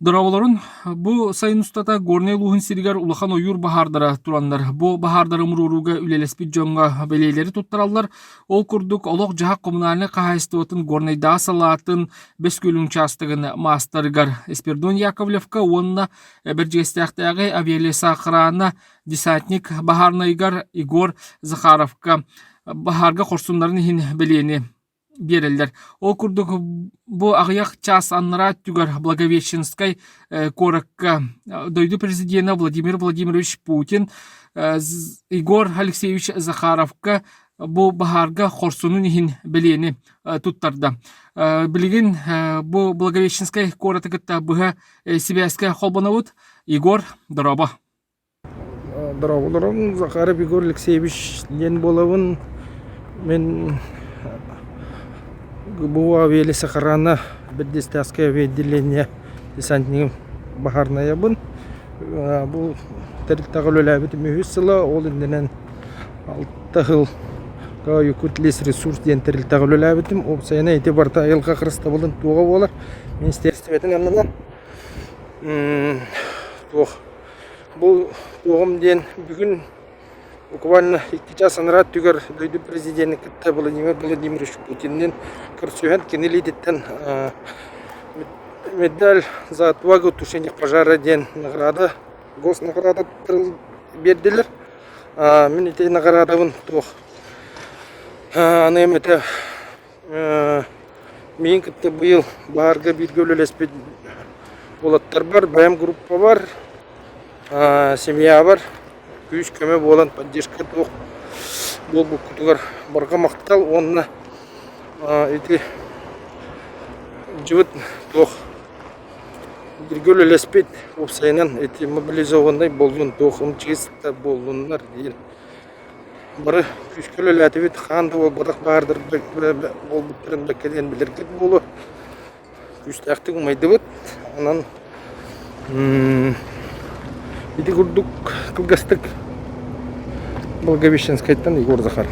Дорооболорун! Бу сайын устата Горнай улууһун сиригэр улахан ойуур баһаардара тураннар, бу баһаардары умуруорууга үлэлэспит дьоҥҥо бэлиэлэри туттараллар. Ол курдук, олох-дьаһах коммунальнай хаһаайыстыбатын Горнайдааҕы салаатын Бөскүөлүн учаастагын маастарыгар Спирдон Яковлевка уонна Бэрдьигэстээхтээҕи авиалесоохрана десантник баһаарынайгар Егор Захаровка баһаарга хорсуннарын иһин бэлиэни биэрэллэр. Ол курдук бу аҕыйах чаас аннараа өттүгэр Благовещенскай куоракка дойду президенэ Владимир Владимирович Путин Егор Алексеевич Захаровка бу баһаарга хорсунун иһин бэлиэни туттарда. Билигин бу Благовещенскай куораты кытта быһа сибээскэ холбонобут Егор Дороба. Дорооболорум Захаров Егор Алексеевич диэн буолабын. Мин ГБУ авиа сахарана бэрдистээскэй авиаотделение десантнигым баһаарынайабын. Бу тэрилтэҕэ үлэлээбитим үһүс сыла, ол иннинэн алта сылга Якутлесресурс диэн тэрилтэҕэ үлэлээбитим. Уопсайынан ити барыта айылҕа харыстабылын туоҕа буолар министиэристибэтин аннынан туох Бу уоҕум диэн бүгүн буквально икки час анараа өттүгэр дойду президенин кытта Владимир Владимирович Путинныын көрсүһэн кинилиититтэн медаль за отвагу тушение пожара диэн награда госнаграда биэрдилэр мин ити наградабын туох аныам этэ Миин кытта быйыл баарга бииргэ үлэлэспит уолаттарбар, бэйэм группабар, семьябар күүс-көмө буолан поддержка туох буолбуккутугар барҕа махтал уонна ити дьыбыт туох бииргэ үлэлэспит уопсайынан ити мобилизованнай буоллун туох чиэс буоллуннар диэн Бары күүскэ үлэлээтибит, хаан да буолбатах баһаардарга буолбуттарын да кэлэн билэргит буолуо. Күүстээхтик умайдыбыт. Онон ити курдук кылгастык Благовещенскайтан Егор Захаров